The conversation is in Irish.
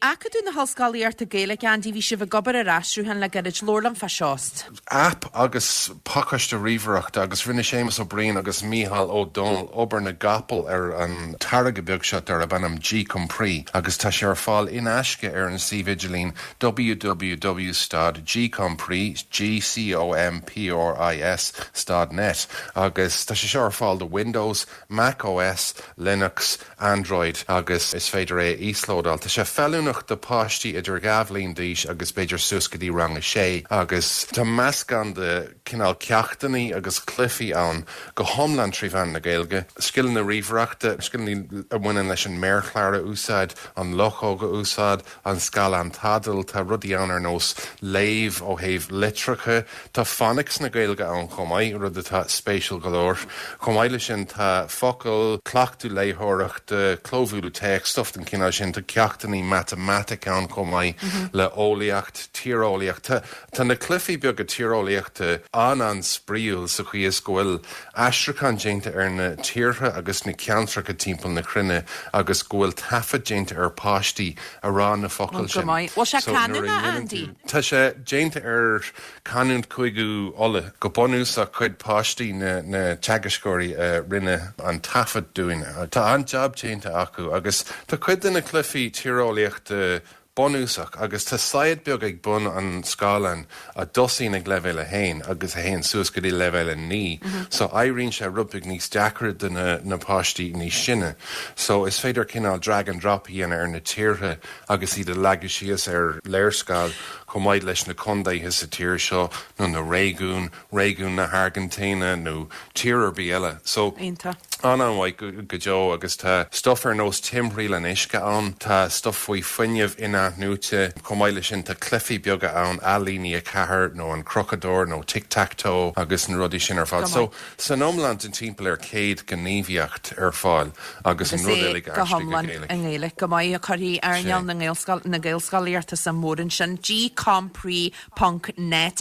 Acadamh na hOllscolaíochta Gaeilge Andy, bhí sibh ag obair ar aistriúchán le gairid. Labhair liom faoi seo. Aip agus pacáiste ríomhaireachta agus rinne Séamus Ó Briain agus Mícheál Ó Domhnaill obair na gcapall ar an táirge beag seo darb ainm GCompris agus tá sé ar fáil in aisce ar an suíomh idirlín www.gcompris.net agus tá sé seo ar fáil do Windows Mac OS, Linux, Android agus is féidir é a íoslódáil. Tá sé feiliúnach do páistí idir dhá bhliain d'aois agus b'fhéidir suas go dtí rang a sé agus tá meascán de chineál ceachtainí agus cluichí ann go hiomlán trí mheán na Gaeilge. Scileanna ríomhaireachta, scileanna a bhaineann leis an méarchlár a úsáid, an luchóg a úsáid, an scáileán tadhaill, tá rudaí ann ar nós léamh ó thaobh litreacha, tá Phonics na Gaeilge ann chomh maith, rud atá spéisiúil go leor. Chomh maith leis sin tá focail, cleachtadh léitheoireachta, clóbhualadh téacs, stuff den chineál sin. Tá ceachtainí matamaitice ann chomh maith le eolaíocht, tíreolaíocht. Tá Tá na cluichí beaga tíreolaíochta an-an-spraíúil sa chaoi is go bhfuil aistriúchán déanta ar na tíortha agus na ceantracha timpeall na cruinne agus go bhfuil taifead déanta ar pháistí a rá na focail sin. Bhuel, go maith. Bhfuil sé canúnach, Andy? Tá sé déanta ar chanúint Chúige Uladh. Go bunúsach cuid páistí na na teagascóirí a rinne an taifead dúinn. Tá an-jab déanta acu agus tá cuid de na cluichí tíreolaíochta bunúsach agus tá saighead beag ag bun an scáileáin a dtosaíonn ag leibhéal 1 agus a théann suas go dtí leibhéal 9 so éiríonn sé rud beag níos deacair do na páistí níos sine so is féidir cineál drag and drop a dhéanamh ar na tíortha agus iad a leagadh síos ar léarscáil chomh maith leis na contaetha sa tír seo nó na réigiúin réigiún na hAirgintíne nó tír ar bith eile. So. An-mhaith go deo agus tá stuff ar nós timthriall an uisce ann, tá stuff faoi fuinneamh in-athnuaite, chomh maith leis sin tá cluichí beaga ann, ailínigh 4 nó an Crochadóir nó Tic Tac Toe agus na rudaí sin ar fad. So san iomlán tá timpeall ar 100 gníomhaíocht ar fáil agus an rud go hiomlán i nGaeilge. Go maith, cuirfidh earnáil na Gaelscolaíochta suim mhór ansin. GCompris ponc net.